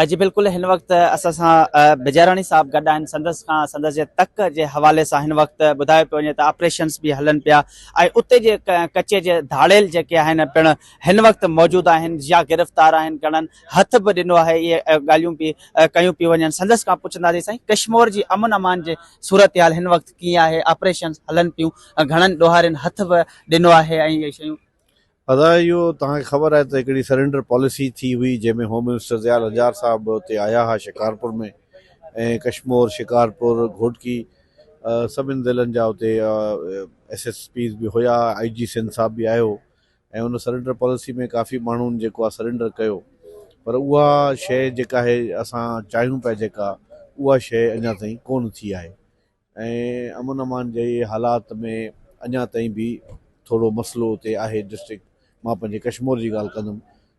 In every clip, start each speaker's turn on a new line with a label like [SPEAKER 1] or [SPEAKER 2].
[SPEAKER 1] جي بلڪل هن وقت اسان سان بجاراڻي صاحب گڏ آهن سندس کان سندس جي تڪ جي حوالي سان هن وقت ٻڌايو پيو وڃي ته آپريشنس به هلن پيا ۽ اتي جي ڪچي جي ڌاڙيل جيڪي آهن پڻ هن وقت موجود آهن يا گرفتار آهن گهڻن هٿ به ڏنو آهي اهي ڳالهيون به ڪيون پيون وڃن سندس کان پڇنداسين سائين ڪشمور جي امن امان جي صورتحال هن وقت ڪيئن آهي آپريشنس هلن پيون گهڻن ڏوهارين هٿ به ڏنو آهي ۽ اهي شيون ادا اهو
[SPEAKER 2] توهان کي خبر آهي ته هڪڙي سرينڊر پاليسي ٿي هئي جنهن ۾ هوم منسٽر ضياء الحجار صاحب به اتي آيا ها شڪارپور ۾ ۽ ڪشمور شڪارپور گهوٽڪي سڀن ضلعن جا اتي ايس ايس پيز به هيا آئي جي سنڌ صاحب به آيو ۽ ان سرينڊر پاليسي ۾ ڪافي ماڻهن جيڪو آهي سرينڊر ڪيو پر اها شيء جيڪا آهي اسان چاهيون پيا جيڪا اها شيء اڃا تائين ڪون ٿي آهي ۽ امن امان جي حالات ۾ اڃا تائين به ٿورو مسئلو اتي آهي ڊسٽرڪٽ مان پنهنجي ڪشمور جي ڳالهه ڪندم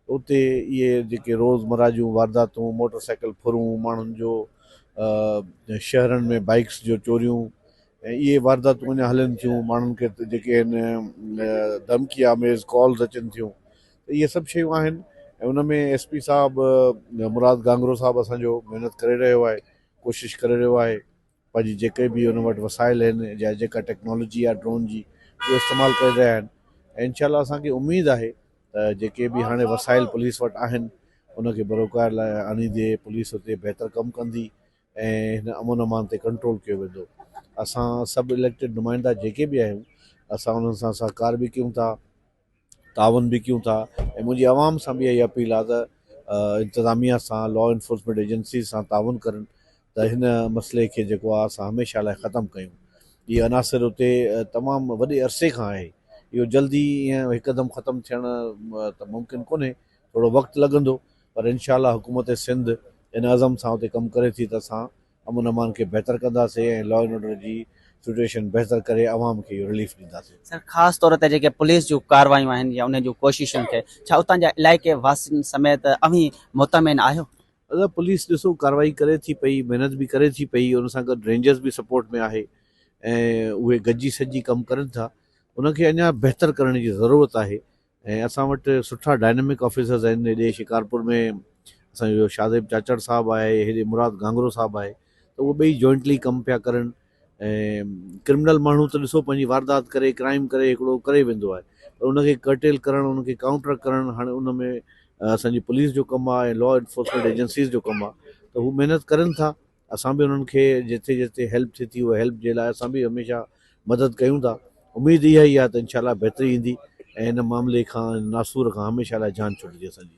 [SPEAKER 2] اتي اهي جيڪي روزمرا جون وارداتون موٽر سائيڪل ڦرون ماڻهن جو شهرن ۾ بائيڪس جو چوريون ۽ اهي وارداتون اڃا هلن ٿيون ماڻهن کي جيڪي ان دمڪي آميز ڪالز اچن ٿيون اهي سڀ شيون آهن ۽ ان ۾ ايس پي صاحب مراد گانگرو صاحب اسان جو محنت ڪري رهيو آهي ڪوشش ڪري رهيو آهي پنهنجي جيڪي به ان وٽ وسائل آهن يا جيڪا ٽيڪنالاجي آهي ڊرون جي اهو استعمال ڪري رهيا آهن ۽ انشاء الله اسان کي اميد آهي ته جيڪي به هاڻي وسائل پوليس وٽ آهن ان کي بروڪار لاء آڻيندي پوليس اتي بهتر ڪم ڪندي ۽ هن امن امان تي ڪنٽرول ڪيو ويندو اسان سڀ اليڪٽيڊ نمائندا جيڪي به آهيون اسان انهن سان سهڪار به ڪيون ٿا تعاون به ڪيون ٿا ۽ منهنجي عوام سان به اها ئي اپيل آهي ته انتظاميه سان لا انفورسمينٽ ايجنسيز سان تعاون ڪرن ته هن مسئلي کي جيڪو آهي اسان هميشه لاء ختم ڪيون هي عناصر اتي تمام وڏي عرصي کان آهي اهو جلدي ائين هڪدم ختم ٿيڻ ته ممڪن ڪونهي ٿورو وقت لڳندو پر انشاء الله حڪومت سنڌ ان عزم سان اتي ڪم ڪري ٿي ته اسان امن امان کي بهتر ڪنداسين ۽ لا اينڊ آرڊر جي سٽوئيشن بهتر ڪري عوام کي اهو رليف ڏينداسين. سر خاص طور تي
[SPEAKER 1] جيڪي پوليس جون ڪارروايون آهن يا انهن جون ڪوششن کي ڇا اتان جا علائقي واسين سميت اوهين مطمئن آهيو؟ ادا پوليس
[SPEAKER 2] ڏسو ڪارروائي ڪري ٿي پئي محنت به ڪري ٿي پئي ان سان گڏ رينجرز به سپورٽ ۾ آهي ۽ اهي گڏجي سڏجي ڪم ڪرن ٿا ان کي اڃا بهتر ڪرڻ جي ضرورت آهي ۽ اسان وٽ سٺا ڊائنامڪ آفيسرز آهن هيڏي شڪارپور ۾ اسان جو جو شاهزيب چاچڙ صاحب آهي هيڏي مراد گهانگهرو صاحب آهي ته اهو ٻئي جوائنٽلي ڪم پيا ڪرن ۽ ڪرمنل ماڻهو ته ڏسو پنهنجي واردات ڪري ڪرائيم ڪري هڪڙو ڪري ويندو آهي پر ان کي ڪرٽيل ڪرڻ ان کي ڪائونٽر ڪرڻ هاڻي ان ۾ اسان جي پوليس جو ڪم آهي لا انفورسمينٽ ايجنسيز جو ڪم آهي ته هو محنت ڪرن ٿا اسان به انهن کي جتي جتي هيلپ ٿئي ٿي اها هيلپ جي لاء اسان به هميشه مدد ڪيون ٿا اميد اها ئي آهي ته انشاء الله بهتري ايندي ۽ هن معاملي کان ناسور کان هميشه لاء جان ڇٽجي اسان جي.